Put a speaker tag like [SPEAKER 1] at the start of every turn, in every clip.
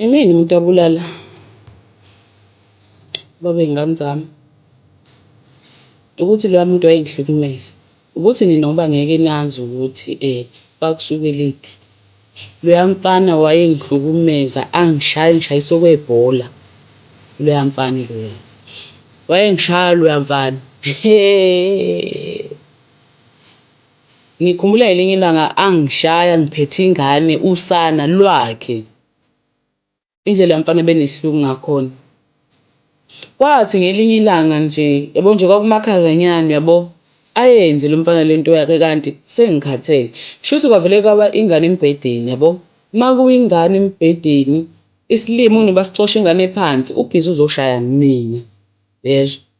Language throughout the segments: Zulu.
[SPEAKER 1] Imina umuntu abulala ubaba wey'ngane zami. Ukuthi loya muntu wayengihlukumeza, ukuthi nina ngoba ngeke nazi ukuthi kwakusukelephi. Loya mfana wayengihlukumeza angishaya engishayisa okwebhola loya mfana loya. Wayengishaya loya mfana . Ngikhumbula ngelinye ilanga angishaya ngiphethe ingane usana lwakhe. Indlela lomfana abenesihlungu ngakhona. Kwathi ngelinye ilanga nje yabo nje kwakumakhazanyana yabo ayenze lomfana lento yakhe kanti sengikhathele. Shuthi kwavele kwaba ingane embhedeni yabo. Makuwingane embhedeni isilima unina basicosha ingane phansi ubhizi uzoshaya mina. Uyezwa?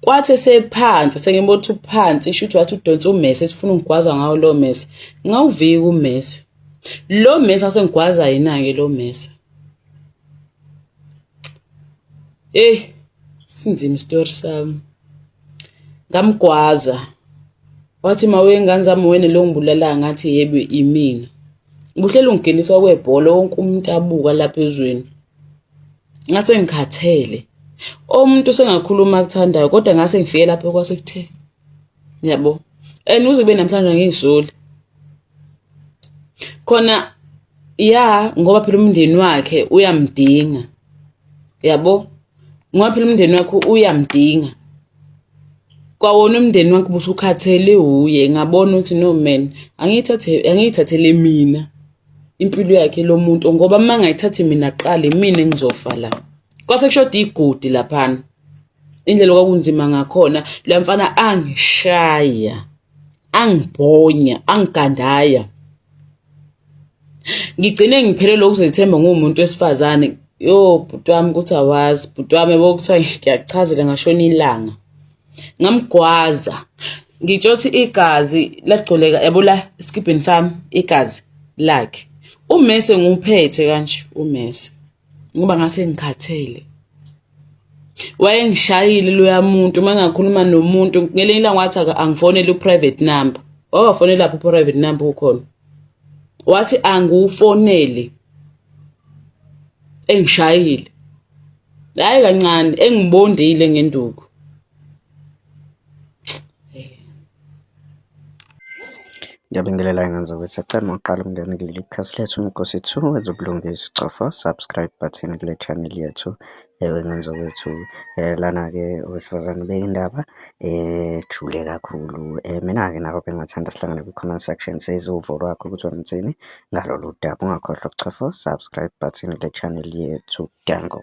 [SPEAKER 1] kwathi esephansi sengibona ukuthi uphansi isho ukuthi wathi udonsa umesi esifuna ungigwaza ngawo lo mesi ngawuvika umesi lo mesi wasengigwaza yena-ke lo mesi eyi sinzima isitori sami ngamgwaza wathi ma wengane zami wena lo ngibulala ngathi yebo imina ubuhleli ungingeniswa kwebhola wonke umuntu abuka lapha ezweni ngase ngikhathele omuntu sengakhuluma akuthandayo kodwa ngase ngifike lapho kwase kuthe yabo and uze kube namhlanje ngisoli khona ya ngoba phela umndeni wakhe uyamdinga yabo ngoba phela umndeni wakhe uyamdinga kwawona umndeni wakhe busukhathele uye ngabona ukuthi no man angiyithathe angiyithathele mina impilo yakhe lo muntu ngoba uma ngayithathi mina qale mina engizofa la kwase kushoda igudi laphana indlela kwakunzima ngakhona la mfana angishaya angibhonya angigandaya ngigcine ngiphelelwe ukuzethemba ngumuntu wesifazane yo bhuti wami ukuthi awazi bhuti wami bokuthiwa ngiyachazela ngashona ilanga ngamgwaza ngitsho ukuthi igazi lagcoleka yabo la esikibheni sami igazi lakhe umese nguphethe kanje umese ngoba ngase ngikhathele wayengishayile loya muntu uma ngakhuluma nomuntu ngelinye ilanga wathi angifonele u-private number wawafonela lapho u-private number ukhona wathi angiwufonele engishayile hayi kancane engibondile ngenduku
[SPEAKER 2] Ngiyabingelela ingane zakwethu acela uma uqala ukungena kuleli khasi lethu Nkosi 2 wenza ubulungisa ucofa subscribe button kule channel yethu ewe ngane zakwethu eh, lana-ke owesifazane beyindaba ejule eh, kakhulu um mina-ke nako bengingathanda sihlangane kwi-comment section seze uvo lwakho ukuthi wenzini ngalolu daba ungakhohlwa ukucofa subscribe button kule channel yethu Danko.